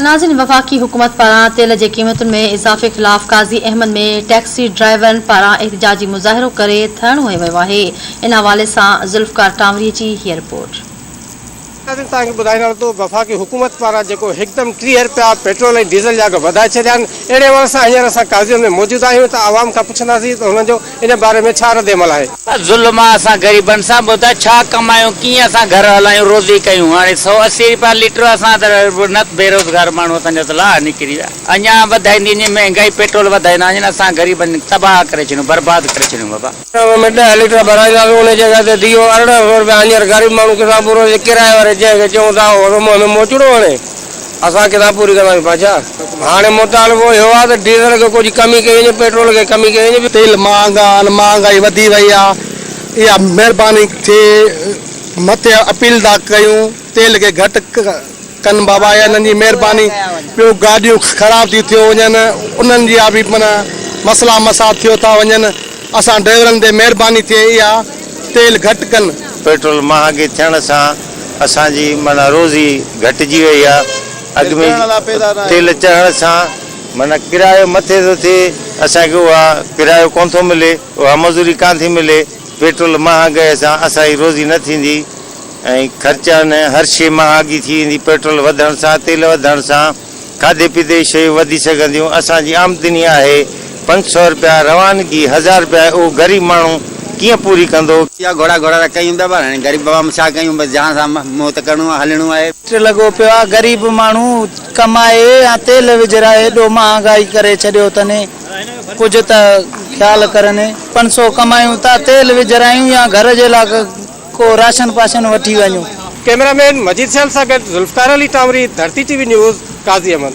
ناظرين وفاقي حڪومت پاران تيل جي قيمتن ۾ اضافي خلاف قاضي احمد ۾ ٽيڪسي ڊرائيورن پاران احتجاجي مظاهرو ڪري ڌرڻو هنيو ويو آهي ان حوالي سان ذوالفقار ٽانوري جي هيء رپورٽ. ناظرين توهان کي ٻڌائڻ هلان ٿو وفاقي حڪومت پاران جيڪو هڪدم ٽيهه رپيا پيٽرول ۽ ڊيزل جا اگهه وڌائي ڇڏيا آهن اهڙي حوالي سان هينئر اسان قاضي احمد ۾ موجود آهيون ته عوام کان پڇنداسين ته هنن جو ان باري ۾ ڇا رد عمل آهي؟ ظلم آ اسان غريبن سان ٻڌاء ڇا ڪمايون ڪيئن اسان گهر هلايون روزي ڪيون هاڻي سؤ اسي رپيا ليٽر اسان ته نت بيروزگار ماڻهو اسان جا ته لاڙا نڪري ويا اڃا وڌائيندي وڃي مهنگائي پيٽرول وڌائيندا وڃن اسان غريبن تباهه ڪري ڇڏيون برباد ڪري ڇڏيون بابا. ڏهه ۾ ڏهه ليٽر ڀرائينداسون ان جڳهه تي ديو ارڙهن سؤ رپيا هينئر غريب ماڻهو ڪسان پورو جي ڪرايي واري جنهن کي چئون ٿا اهو ته منهن ۾ موچڙو هڻي اسان ڪتاب پوري ڪنداسين بادشاهه هاڻي مطالبو اهو آهي ته ڊيزل کي ڪجهه ڪمي ڪئي وڃي پيٽرول کي ڪمي ڪئي وڃي. تيل مهانگا آهن مهانگائي وڌي وئي آهي اها مهرباني ٿي مٿي اپيل ٿا ڪيون تيل کي گهٽ ڪن بابا اها انهن جي مهرباني ٻيو گاڏيون خراب ٿيون ٿيو وڃن انهن جي اها به معنيٰ مسئلا مساء ٿيو ٿا وڃن اسان ڊرائيورن تي مهرباني ٿئي اها تيل گهٽ ڪن. پيٽرول مهانگي ٿيڻ سان اسان جي معنيٰ روزي گهٽجي وئي آ. اڳ ۾ تيل چڙهڻ سان معنيٰ ڪرايو مٿي ٿو ٿئي، اسان کي اها ڪرايو ڪونه ٿو ملي، اها مزوري ڪانه ٿي ملي، پيٽرول مهانگئي سان اسان جي روزي نه ٿيندي ۽ خرچا نه هر شيء مهانگي ٿي ويندي، پيٽرول وڌڻ سان، تيل وڌڻ سان. کاڌي پيتي جون شيون وڌي سگهنديون، اسان جي آمدني آهي پنج سؤ رپيا، روانگي هزار رپيا آهي، اهو غريب ماڻهو ڪيئن پوري ڪندو؟ يا گهوڙا گهوڙا ته ڪيون پيا پر هاڻي غريب عوام ڇا ڪيون بس جان سان منهن ته ڪرڻو آهي هلڻو آهي. ٽ لڳو پيو آهي غريب ماڻهو ڪمائي يا تيل وجهرائي ايڏو مهانگائي ڪري ڇڏيو اٿن ڪجهه ته خيال ڪرن پنج سؤ ڪمايون ٿا تيل وجهرايون يا گهر جي لاء ڪو راشن پاشن وٺي وڃو. ڪئميرا مين مجيد سيال سان گڏ Zulfiqar Ali Tamri, Dharti T V news, Qazi Ahmed.